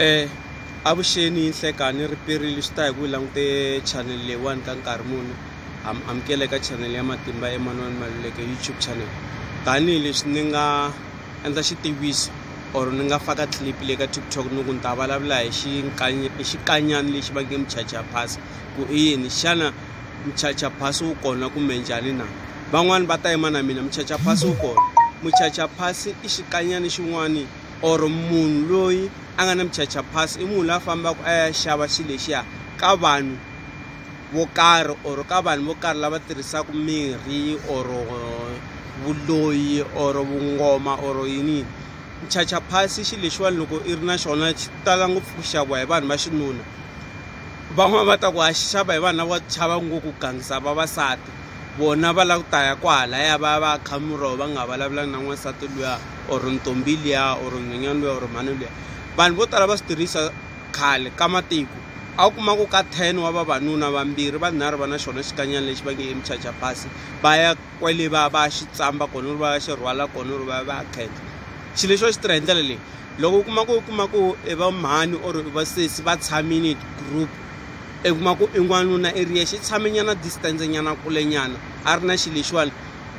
Eh avuxeni nhlekani riperile swi ta hi ku langute channel leyiwani ka nkarhi muni amukela eka channel ya matimba emanwani maluleke youtube channel tanihileswi ni nga endla xitiviso or ni nga faka clip le ka tiktok ni ku ni ta vulavula hi xikanyani lexi va nge muchacha pass ku i yini xana muchacha pass wu kona kumbe njhani na van'wani va ta yima na mina muchacha pass wu kona muchacha pass i xikanyani xin'wani or munhu loyi a nga na muchacha pass i munhu la fambaka a ya xava xilo lexiya ka vanhu vo karhi or ka vanhu vo karhi lava tirhisaka mirhi or vuloyi or vungoma or yini muchacha pass i xilo lexiwani loko i ri na xona xi tala ngopfu ku xaviwa hi vanhu va xinuna van'wani va ta ku ha xava hi vanhu lavo chava ngopfu ku gangisa vavasati. vona va lava ku ta ya kwahalaya va ya va ya kha muroho va nga vulavulanga na n'wansati luya or ntombi liya or nhwenyana luya or mhani luya vanhu vo tala va swi tirhisa khale ka matiko a wu kuma ku ka ten wa vavanuna vambirhi vanharhu va na xona xikanyana lexi va nge i muchacha pasi va ya kwele va va ya xi tsamba kona ri va ya xi rhwala kona ri va ya va ya khensa xilo lexi va xi tirha hi ndlela leyi loko u kuma ku u kuma ku i va mhani or i va sesi va tshamile group I kuma ku i n'wanuna i ri yexe i tshame nyana distance nyana kule nyana a ri na xi lexiwani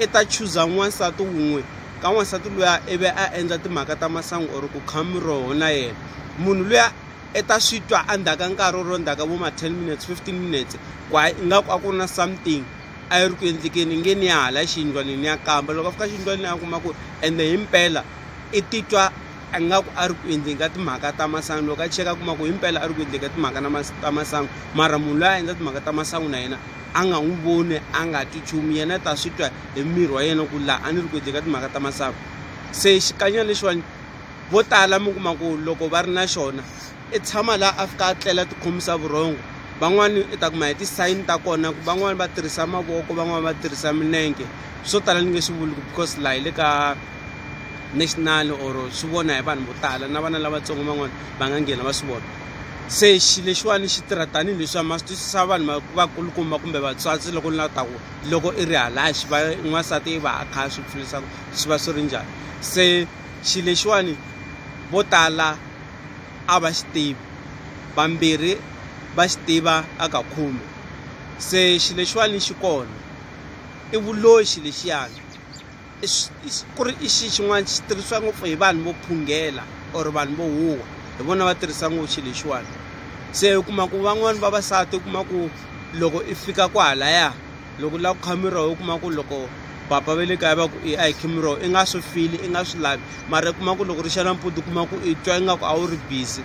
i ta chuza n'wansati wun'we ka n'wansati luya i ve a endla timhaka ta masangu or ku kha miroho na yena munhu luya i ta swi twa endzhaku ka nkarhi or endzhaku ka vo ma ten minutes fifteen minutes ku hayi ingaku a ku ri na something a yi ri ku endlekeni i nge ni ya hala xiyindlwanini ya kamba loko a fika xiyindlwanini a kuma ku ende himpela i titwa a nga ku a ri ku endleni ka timhaka ta masangu loko a cheka a kuma ku himpela a ri ku endleni ka timhaka na ta masangu mara munhu loyi a endla timhaka ta masangu na yena a nga n'wi voni a nga twi nchumu yena ta swi twa hi miri wa yena ku laha a ni ri ku endleni ka timhaka ta masangu se xikanyana lexiwani vo tala mi kuma ku loko va ri na xona i tshama laha a fika a tlela tikhomisa vurhongo van'wani i ta kuma hi tisayini ta kona ku van'wani va tirhisa mavoko van'wani va tirhisa milenge swo tala ni nge swi vuli ku because laha hi le ka national or swi vona hi vanhu vo tala na vana lavatsongo van'wana va nga nghena va swi vona se xi lexiwani xi tirha tanihi leswi ma swi twisisa vanhu vakulukumba kumbe vatswatsi loko ni la ta ku loko i ri halaxi va n'wansati i va a kha a swi pfulisa swi va swi ri njhani se xi lexiwani vo tala a va xi tivi vambirhi va xi tiva a ka khume se xi lexiwani xi kona i vuloxi lexiyani ku ri i xi xin'wana xi tirhisiwa ngopfu hi vanhu vo phungela or vanhu vo huwa hi vona va tirhisa ngopfu xilo lexiwani se u kuma ku van'wani vavasati u kuma ku loko i fika kwahalaya loko u lava ku kha miroho u kuma ku loko papa va le kaya va ku i a hi khe miroho i nga swi fili i nga swi lavi mara i kuma ku loko ri xa nampundzu u kuma ku i twa ingaku a wu ri busy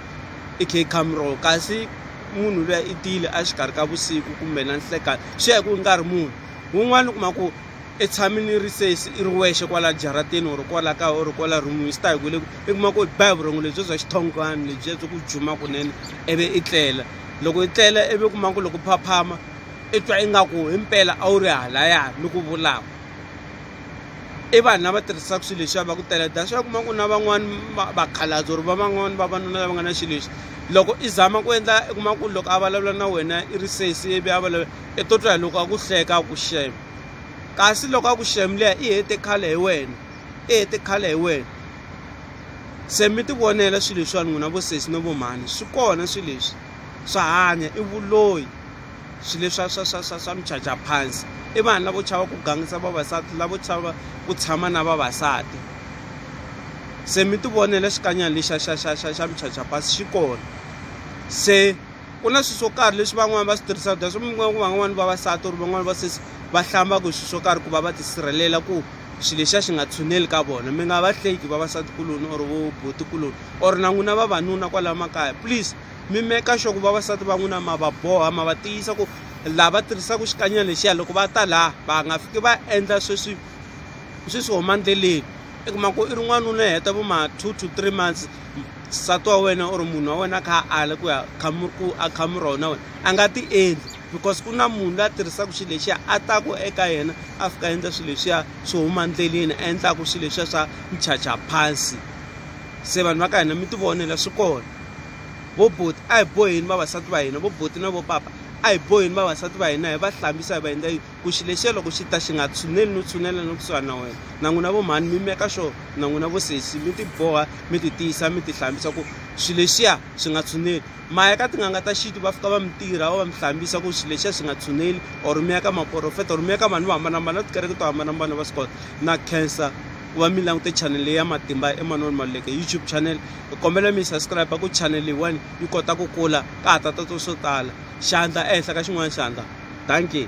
i khe i kha miroho kasi munhu luya i tile a xikarhi ka vusiku kumbe na nhlekani swi ya hi ku i nkarhi munhu wun'wani u kuma ku i tshami ni ri se i ri wexe kwala jarateni or kwala kaya or kwala rhumini swi ta hi ku le i kuma ku ba hi vurhongo lebyi bya xithongwana lebyiya byi ku juma kunene ivi i tlela loko i tlela ivi kuma ku loko phaphama i twa ingaku hi mpela a wu ri halaya ni ku vulaka i vanhu lava tirhisaka swilo leswiya va ku tela that's why kuma ku na van'wani vakhalabye or va van'wani vavanuna lava nga na xilo lexi loko i zama ku endla i kuma ku loko a vulavula na wena i ri sesi ivi a vulavula i to twa hi loko a ku hleka a ku shame kasi loko a ku shame liya i hete khale hi wena i hete khale hi wena se mi ti vonela swilo leswiwani n'wina vo sesi no vo mhani swi kona swilo leswi swa hanya i vuloyi swilo leswa swa swa swa swa michaja phansi i vanhu lavo chava ku gangisa vavasati lavo chava ku tshama na vavasati se mi ti vonela xikanyana lexa xa xa xa xa michaja phansi xi kona se ku na swilo swo karhi leswi van'wani va swi tirhisaka that's why mi kuma ku van'wani vavasati or van'wani va sesi va hlambaka hi swilo swo karhi ku va va tisirhelela ku xilo lexiya xi nga tshuneli ka vona mi nga va hleki vavasatikuloni or vo botikuloni or na n'wina vavanuna kwalaho makaya please mi meka sure ku vavasati va n'wina ma va boha ma va tiyisa ku laha va tirhisaka xikanyana lexiya loko va ta laha va nga fiki va endla sweswi sweswi homa ndleleni i kuma ku i ri n'wanuna i heta vo ma two to three months nsati wa wena or munhu wa wena a kha a ala ku ya ku a khamura wona wena a nga ti endli because ku na munhu la tirhisaka xilo lexiya a taku eka yena a fika a endla swilo leswiya swo huma ndleleni a endlaku swilo leswiya swa michacha phansi se vanhu va ka hina mi ti vonela swi kona vo boti a hi boheni vavasati va hina vo boti na vo papa a hi boheni vavasati va hina hi va hlambisa hi va endla yini ku xi lexiya loko xi ta xi nga tshuneli no tshunela no kusuhani na wena na n'wina vo mhani mi meka sure na n'wina vo sesi mi tiboha mi ti tiyisa mi ti hlambisa ku xi lexiya xi nga tshuneli ma ya ka tin'anga ta xintu va fika va mi tirha va va mi hlambisa ku xi lexiya xi nga tshuneli or mi ya ka maporofeta or mi ya ka vanhu vo hambanahambana va tikereke to hambanahambana va swi kota na cancer ku va mi langute channel leyi ya matimba emanoni maluleke youtube channel hi kombela mi subscribe ku channel leyiwani yi kota ku kula ka ha ta tatwa swo tala xandla ehenhla ka xin'wana xandla dankie.